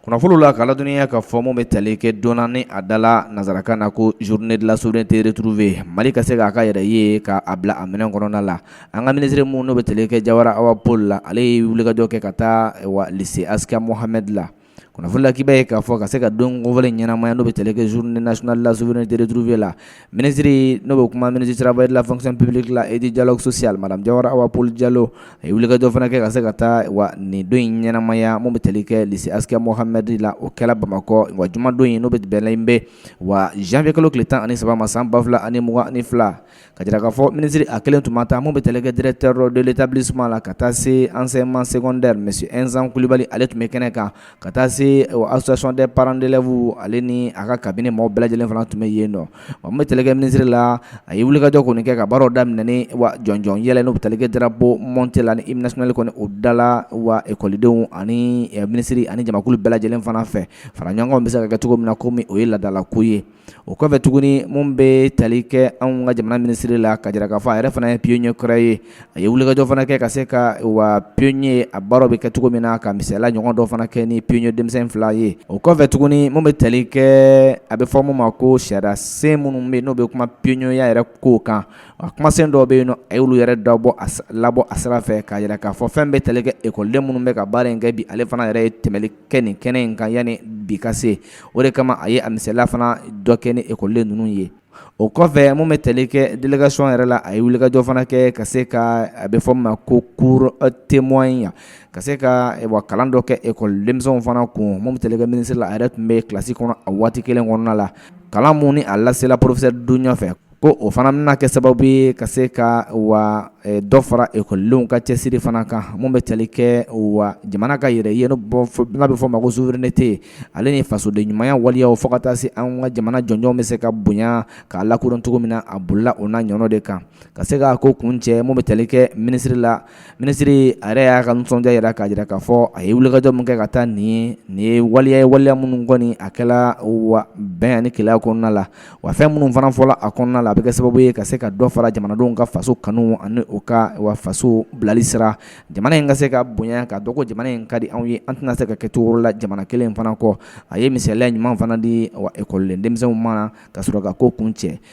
kunnafoni la k'a ladɔnniya k'a fɔ min bɛ tali kɛ don na ni a dala nansarakan na ko journée de la souveraineté retrouvée mali ka se k'a ka yɛrɛ ye k'a bila a minɛn kɔnɔna la an ka minisiri min n'o bɛ tali kɛ jawara awa paul la ale ye wulikajɔ kɛ ka taa wa lycée askia mohamed la kunnafoni la k'i b'a ye k'a fɔ ka se ka don kofɔlen ɲɛnamaya n'o bɛ tali kɛ journée nationale de la souveraineté retrouvée la Minisiri n'o bɛ kuma ministre du travail de la fonction publique la et du dialogue social madame jawara awa paul jalo a ye wulikajɔ fana kɛ ka se ka taa wa nin don in ɲɛnamaya min bɛ tali kɛ lycée askia mohamed la o kɛra bamakɔ wa jumadon in n'o bɛ bɛnlen bɛ wa janvier kalo tile tan ani saba ma san ba fila ani mugan ani fila k'a jira k'a fɔ minisiri a kelen tun ma taa min bɛ tali kɛ directeur de l'établissement la ka taa se enseignement secondaire monsieur nsan kulibali ale tun bɛ kɛnɛ kan ka taa se association des parents d'élèves ale ni a ka cabinet maaw bɛɛ lajɛlen fana tun bɛ yen nɔ wa min bɛ tali kɛ minisiri la a ye wulikajɔ kɔni kɛ ka baaraw daminɛ ni wa jɔnjɔn yɛlɛ n'o bɛ tali kɛ drapeau monté la ni hymne national kɔni o dala wa ekɔlidenw ani minisiri ani jamakulu bɛɛ lajɛlen fana fɛ fara ɲɔgɔn bɛ se ka kɛ cogo min na komi o ye laadalako ye o kɔfɛ tuguni min bɛ tali kɛ anw ka jamana minisiri la k'a jira k'a fɔ a yɛrɛ fana ye pionnier kɔrɔ ye a ye wulikajɔ fana kɛ ka se ka wa pionnier a baaraw bɛ kɛ cogo min na ka misaliya ɲɔgɔn dɔ fana kɛ ni pionnier denmisɛn fila ye o kɔfɛ tuguni min bɛ tali kɛ a bɛ fɔ min ma ko sariya sen minnu bɛ n'o bɛ kuma pionnierya yɛrɛ ko kan a kumasen dɔw bɛ yen nɔ a y'olu yɛrɛ labɔ a sira fɛ k'a jira k'a fɔ fɛn bɛ tali kɛ ekɔliden minnu bɛ ka baara in kɛ bi ale fana yɛrɛ ye tɛmɛli kɛ nin kɛnɛ in kan yanni bi ka se o de kama a ye a misaliya fana dɔ kɛ ni ekɔliden ninnu ye o kɔfɛ min bɛ tali kɛ délégation yɛrɛ la a ye wulikajɔ fana kɛ ka se ka a bɛ fɔ ma ko cours témoin yan ka se ka kalan dɔ kɛ ekɔli denmisɛnw fana kun min bɛ tali kɛ minisiri la a yɛrɛ tun bɛ kilasi kɔnɔ a waati kelen kɔnɔna la kalan min ni a lasela professeur dunɲa fɛ ko o fana bɛna kɛ sababu ye ka se ka wa dɔ fara ekɔlidenw ka cɛsiri fana kan min bɛ tali kɛ wa jamana ka yɛrɛ ye n'a bɛ fɔ a ma ko souveraineté ale ni fasoden ɲumanya waleyaw fo ka taa se an ka jamana jɔnjɔnw bɛ se ka bonya k'a lakodɔn cogo min na a bolila o n'a ɲɔgɔnnaw de kan ka se ka ko kun cɛ min bɛ tali kɛ minisiriri la minisiri a yɛrɛ y'a ka nisɔndiya jira k'a jira k'a fɔ a ye wulikajɔ min kɛ ka taa nin nin ye waleya ye waleya minnu kɔni a kɛla wa bɛn ani kelenya kɔnɔna la wa fɛn minnu fana fɔla a kɔnɔna la a bɛ kɛ sababu ye ka se ka dɔ fara jamanadenw ka faso kanu ani u ka wa faso bilali sira jamana in ka se ka bonya ka dɔgɔ jamana in ka di anw ye an tɛna se ka kɛ cogo wɛrɛ la jamana kelen in fana kɔ a ye misaliya ɲuman fana di wa ekɔliden denmisɛnw ma ka sɔrɔ ka ko kun cɛ